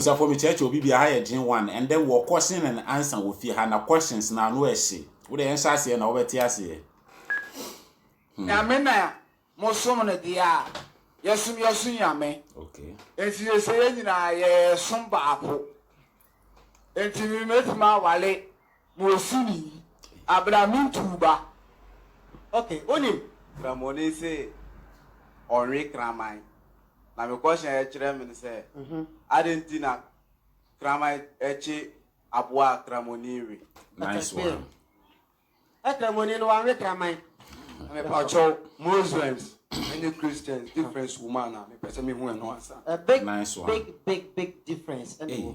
Asafo me kyerɛkyerɛ obi bia ha yɛ dwen one and then wɔ kɔhyen and answer wɔ fie ha na questions no ano ɛhye wo de yɛnhyɛ aseɛ na wobɛte aseɛ hmm. Nyame na mo som no deɛ a yɛ som yɛ so nyame okay. Enti yɛ sɛ yɛ nyinaa yɛ som baako Enti me mɛtumi awale Ma osi me yi abira me ntuu ba ok onim. Kramoni se ɔnwe kraman na me kɔhyɛn ɛkyerɛ me sɛ aden nti na kraman ɛkye aboa a kramoni nwe. Nice one. Ɛ kramoni no wanwe kraman. Mepakyɛw Muslims ne Christians difference wɔ mu anaa? Mepɛ sɛ mehu ɛno ansa. Nice one. Big big big big difference ɛna ɛwɔ mu.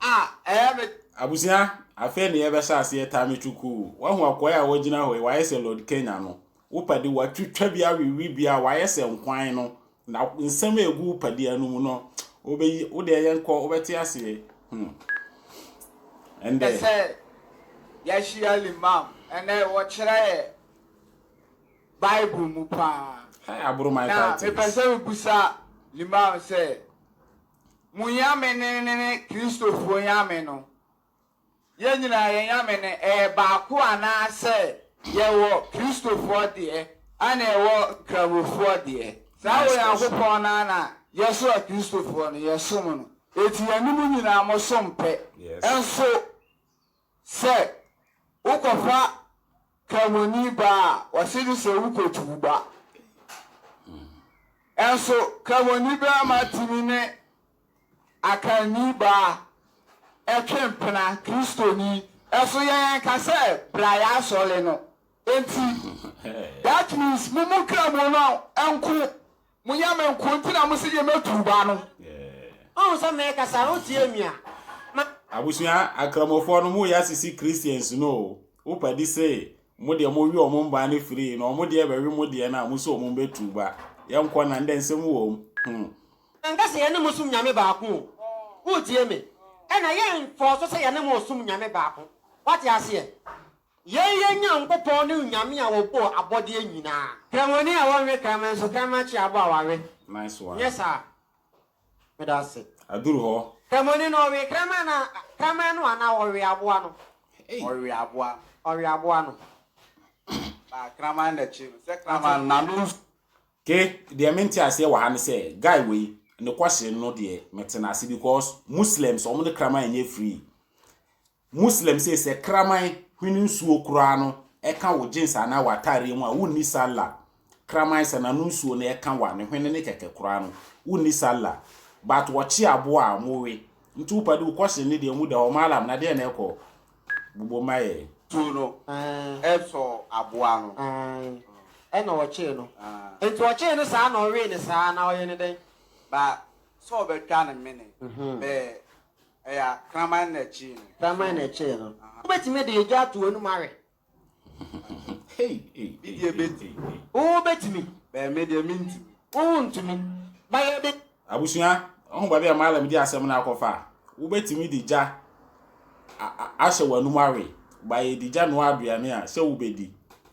a ɛyɛ me. Abusua, afei ne yɛbɛhyɛ aseɛ Tami Chukuu. Wahu akoa a wagyina hɔ yi, wayɛ sɛ Lord Kenya no. Wo padi watwitwa bi awewe bi a wayɛ sɛ nkwan no. Na nsɛm a ɛgu wo padua no mu no, wobɛyi, wo deɛ yɛn kɔ, wobɛte aseɛ. Hmm. Ɛndɛ. Sɛ yɛahyia limam, ɛnɛ wɔkyerɛ yɛ Bible mu paa. Hey, aboro my title. Na mepɛ sɛ mebusa limam sɛ. Mo nyame no ne Kristofoɔ nyame no. Yɛn nyinaa yɛn nyame no ɛyɛ baako anaasɛ yɛwɔ Kristofoɔ deɛ ɛna yɛwɔ Nkramofoɔ deɛ? Saa Onyankopɔn no ara na yɛso a Kristofoɔ no yɛsom no. Enti yɛne mo nyinaa mosom pɛ. Nso Sɛ wokɔfa Kramoni ba a, wɔse no sɛ wokotu wo ba. Nso Kramoni barima tumi ne Akanni baa twe mpena, Kristoni. Nso yɛnka sɛ bra y'asɔre no. Enti that means mo mu Kramoni nko Monyɛ me nko nti na mose yɛ mɛtu wo ba no. Woahu sɛ merekasa a wotie me a? Ma. Abusua akramofɔɔ no mo yɛ asisi Christians no o wo padi se mo deɛ mo we ɔmo mbaa no firii na ɔmo deɛ bɛwe mo deɛ no a mo se ɔmo mbɛtu ba yɛ nkɔ na ndɛ nsɛm wɔm hmm. Menka se yɛne mo som Nyame baako o wotie me ɛna yɛ nkɔɔso sɛ yɛne mo ɔsom Nyame baako wate aseɛ. Yɛn Yɛn Nyankopɔn ne Onyame a ɔbɔɔ abɔdeɛ nyinaa. Kramoni a wɔnwe kraman nso kraman kye aboa a wawe. Nice one. Nyɛ saa. Meda ase. Aduru hɔ. Kramoni no ɔwe kraman no kraman no anaa ɔwe aboa no? Ɔwe aboa no. Ɔwe aboa no. Na kraman na kye no. Sɛ kraman no n'ano nsu. Ke deɛ me nte aseɛ wɔ ha ne sɛ guy wei ne kɔhye no deɛ me te no ase because Muslims wɔn ne kraman nyɛ free Muslim se sɛ kraman hwene nsuo koraa no ɛka wo jeans anaa w'ataareɛ mu a, wonni Sallah. Kraman sɛ n'ano nsuo no ɛka wa ne hwene no kɛkɛ koraa no, wonni Sallah. But wɔkye aboa a, mowe. Nti wo padi, wo question no deɛ emu da hɔ. Mallam, na deɛn na ɛkɔ? Bobom ma yɛn. Nsuo no ɛsɔɔ aboa no. Aane, ɛna wɔkyee no. Nti wɔkyee no saa na ɔwee no saa anaa ɔyɛ no dɛn? Ba sɛ ɔbɛtwa no mene bɛɛ. Kraman na ɛkyee no. Kraman na ɛkyee no. Wobɛtumi de egya ato w'anom awe? Me deɛ bɛtumi. Wo bɛtumi? Bɛɛ me deɛ mentumi. Wo wo ntumi. Ba yɛde. Abusua, ɔho baabi a Malam de asɛm no akɔfa? Wobɛtumi de gya ahyɛ w'anom awe? Ba yɛde gya noa aduane a, sɛ wobɛdi?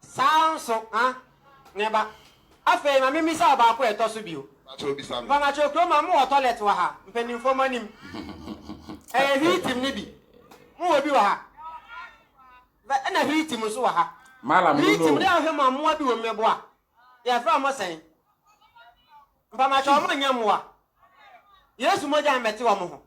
Saa ara nso, ha, me ba. Afei, ma mimmisa wo baako a ɛtɔ so bio. Mpamakyɛw kurom ha, mowɔ tɔlɛt wɔ ha, mpanyimfo mo anim? Ɛyɛ hwiitim no bi. Mowɔ bi wɔ ha? Hwɛ, ɛna hwiitim nso wɔ ha. Hwiitim no yɛ ahwɛ mu a mmoa bi wom, mmeboa. Yɛfrɛ wɔn sɛn? Mpamakyɛw, wɔnyɛ mmoa. Yesu mogya mmɛte wɔn ho.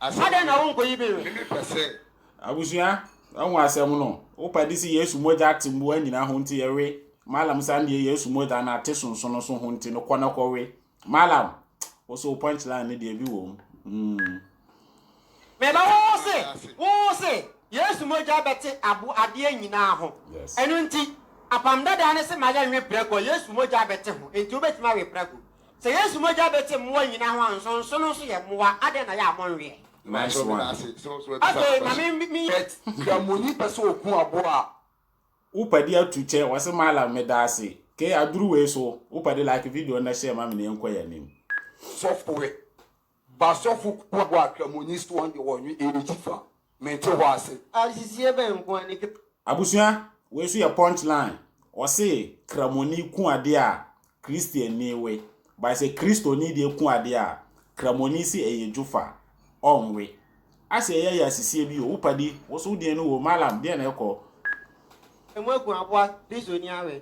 Adɛn na wonkɔyi bi we? Abusua, wahu asɛm no? Wopɛ de si Yesu mogya ate mmoa nyinaa ho nti yɛwe. Malam san deɛ Yesu mogya no ate sonso no so ho nti no kɔ na kɔwe. Malam, wo so wo punchline no deɛ bi wɔ mu. Mm. Meba wo se, wo se Yesu mogya bɛte abo adeɛ nyinaa ho. Yes. Ɛno nti, apam dadaa no se ma yɛnwe prɛko a, Yesu mogya bɛte ho. Enti wobɛtumi awe prɛko. Sɛ Yesu mogya bɛte mmoa nyinaa ho a, nsonsono nso yɛ mmoa, adɛn na yɛ a monwɛɛ? Nice one. Afei ma me me. But kramoni pɛ sɛ ɔku aboa a. Wo pɛ de atu kyɛ wɔse malam medaase kee aduru wei so wo pɛ de like video no na hyɛɛ ma me na yɛnkɔ yɛn anim. Sɔfoe Basɔfo kuw bɔ atwam wɔ Nyisuon de wɔ Ɔnwe Eri Tsifa, Mente hɔ ase. Ahyehyeɛ bɛn nko ara ne kra? Abusua, wei nso yɛ punch line, ɔse Kramoni ku adeɛ a Christiannii we, but sɛ Christoni deɛ ku adeɛ a, Kramoni se ɛyɛ dwofa, ɔnnwe. Ase ɛyɛ yɛ asisie bi o, wo padi, wo so wo deɛn no o, Mallam, deɛn na ɛkɔ? Emu agu aboa Christoni awe,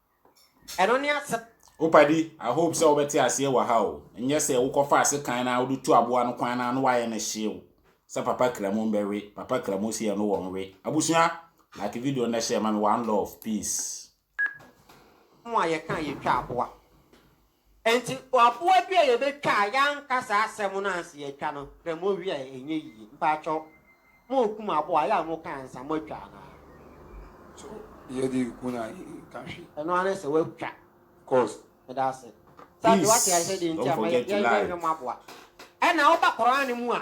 Ɛno ne asɛm. Wo padi, I hope sɛ wobɛte aseɛ wɔ ha o. Nyɛ sɛ wokɔfaa sekan no ara wode tu aboa no kwan no ara na woayɛ no hyeew sɛ papa kramu mbɛwe, papa kramu se ɛno wɔ nwe. Abusua, like video no na share ma me one love, peace. Mo a yɛka a yɛtwa aboa. Enti aboa bi a yɛbɛtwa a yɛanka saa asɛm no ansa yɛatwa no, hwɛ mowie a ɛnyɛ yie. Mpakyɛw, morekum aboa a ɛyɛ a moka ansa moatwa anaa? So yɛ de ku no a yɛnka hwee? Ɛno ara ne sɛ woatwa. Cos. Meda ase. Sɛ afei woate aseɛ deɛ nti a ma yɛnyɛ hwɛ mmoaboa. Ɛna woba Qur'aan mu a.